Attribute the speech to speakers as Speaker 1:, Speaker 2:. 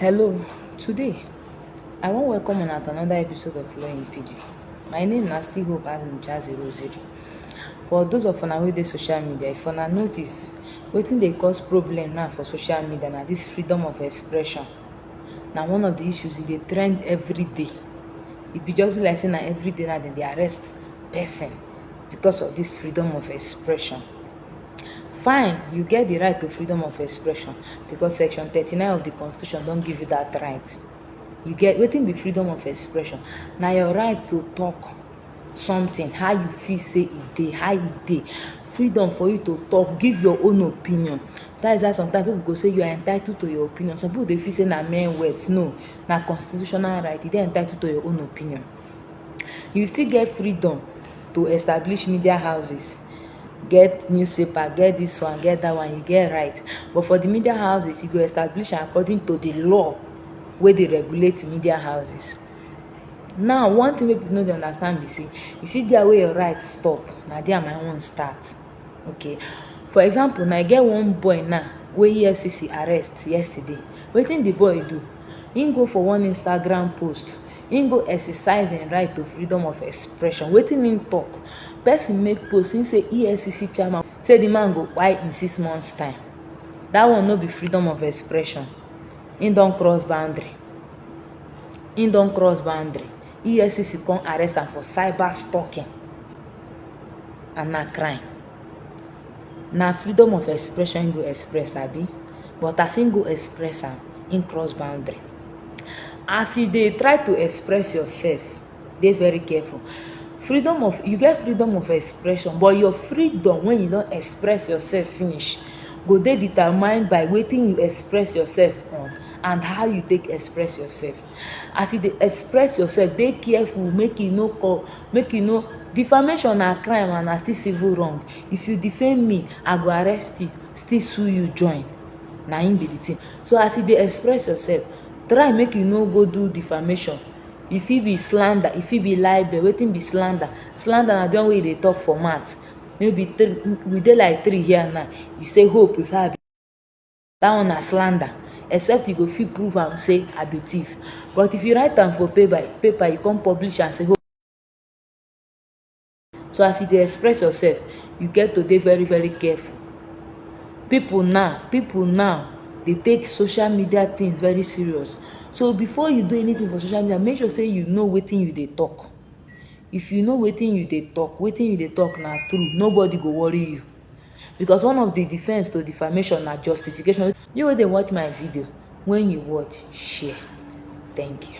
Speaker 1: Hello, today I wan welcome una to another episode of Law in Pidgin. My name na still Hope Azim Jazzy Rosary. For those of una wey dey social media, if una notice, wetin dey cause problem now for social media na this freedom of expression. Na one of the issues e dey trend every day. E be just be like say na every day na dem dey arrest person because of this freedom of expression. fine you get di right to freedom of expression because section thirty nine of di constitution don give you dat right you get wetin be freedom of expression na your right to talk something how you feel say e dey how e dey freedom for you to talk give your own opinion that is why sometimes people go say you are entitled to your opinion some people dey feel say na mere words no na constitutional right you dey entitled to your own opinion you still get freedom to establish media houses get newspaper get this one get that one you get right but for the media houses you go establish am according to the law wey dey regulate media houses now one thing wey people no dey understand be say you see there wey your right stop na there my own start okay for example now e get one boy now wey efcc arrest yesterday wetin the boy do him go for one instagram post im go exercise im right to freedom of expression wetin im tok person make post im say efcc chairman say di man go kpai in six months time dat one no be freedom of expression im don cross boundary im don cross boundary efcc come arrest am for cyber stalking and na crime na freedom of expression im go express abi but as im go express am im cross boundary as you dey try to express yourself dey very careful freedom of you get freedom of expression but your freedom when you don express yourself finish go dey determined by wetin you express yourself on and how you take express yourself as you dey express yourself dey careful make you no call make you no defamation na crime and na still civil wrong if you defame me i go arrest you still sue you join na im be the thing so as you dey express yourself try make you no go do defamation e fit be slander e fit be libel wetin be slander slander na the one wey you dey talk for mouth maybe we dey like three here now you say hope is her that one na slander except you go fit prove am say i be thief but if you write am for paper paper you come publish am say oh so as you dey express yourself you get to dey very very careful people now people now dey take social media things very serious so before you do anything for social media make sure say you know wetin you dey talk if you know wetin you dey talk wetin you dey talk na true nobody go worry you Because one of di defence to defamation na justification. You wey dey watch my video, wen you watch, share. Thank you.